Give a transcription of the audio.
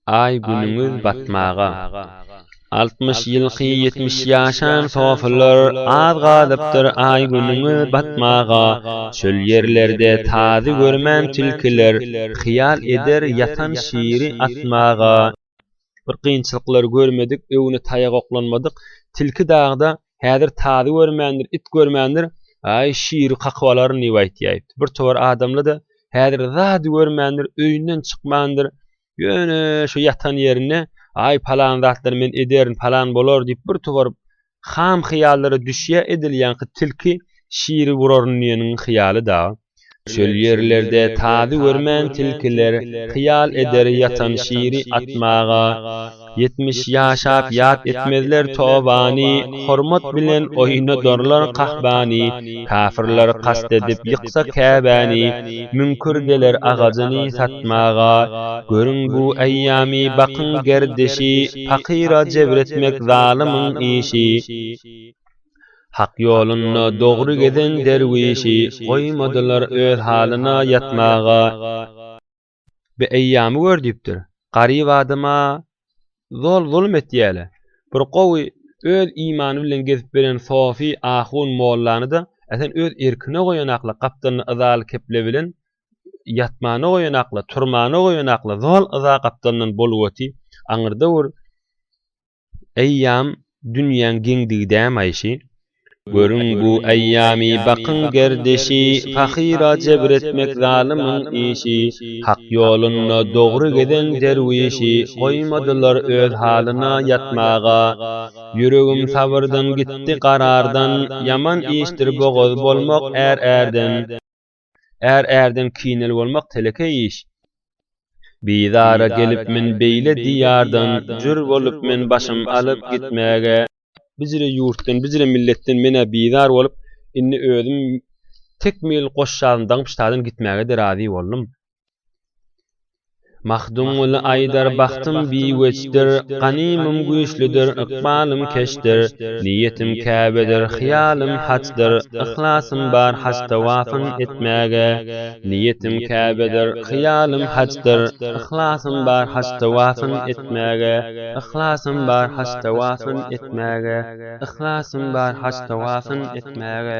Aý günüňiz batmaga. Altmyş ýylky ýetmiş ýaşan sofylar az galypdyr aý günüňiz batmaga, çöl ýerlerde tazy görmän tilkiler, hyýal eder ýatan şiri atmaga. bir kynçylyklary görmedik, öwni taýak oklanmadyk. Tilki dagda häzir tazy görmändir, it görmändir, aý, şiri kakyp alaryn diýip aýtýaýypdy. Bir towar adamly-da häzir zady görmändir, öýünden çykmandyr, ýöne şu ýatan ýerinde, aý, palan zatlary men ederin, palan bolar diýip bir towar Ham hyýallara düşýä edilýänki tilki şiri vuraryn diýeniň hyýaly-da. Çöl ýerlerde tazy görmän tilkiler hyýal eder ýatan şiri atmaga. Ýetmiş ýaşap ýat etmezler tobany, hormat bilen oýnadarlar kahbany. kafirler kast edip ýyksa Käbäni, müňkür geler agajyny satmaga, görüň bu eýýamy bakyň gerdişi, pakyra jebir etmek zalymyň işi. Hak ýolunda dogry gezen derwişi, goýmadylar öz halyna ýatmaga. Bi eýýamy gör diýipdir. Garyp adama zol zulum etýäle. Bir gowy öz imany bilen gezip beren sofy ahun mollany-da esen öz erkine goýanakla gapdalyny yzaly keple bilen ýatmana goýanakla, turmana goýanakla zol yza gapdalyndan boluwati aňyrda bir Eýýam dünýäň geňdigi dämaýşy, Görüň bu eýýamy, bakyň gerdeşi, Pahyra jebir etmek zalymyň işi, Hak ýolunda dogry gezen derwişi, Goýmadylar öz halyna ýatmaga. Ýüregim sabyrdan gitdi garardan, Ýaman işdir bogaz bolmak är-ärden. Är ärden kinel bolmak telekeý iş. Bizara gelip men beýle diýardan, jür bolup men başym alyp gitmäge. Bijire ýurtdan, bijire milletden men-ä bizar bolup, indi özüm tekmil goşjazyny daňyp ştadan gitmäge-de razy boldum. Magtymguly aýdar, Bagtym biweçdir, ganymym güýçlüdir, ykbalym keçdir, Niýetim Käbedir, hyýalym hajdyr, yhlasym bar haj tawafyn etmäge. Niýetim Käbedir, hyýalym hajdyr, yhlasym bar haj tawafyn etmäge, yhlasym bar haj tawafyn etmäge, yhlasym bar haj tawafyn etmäge.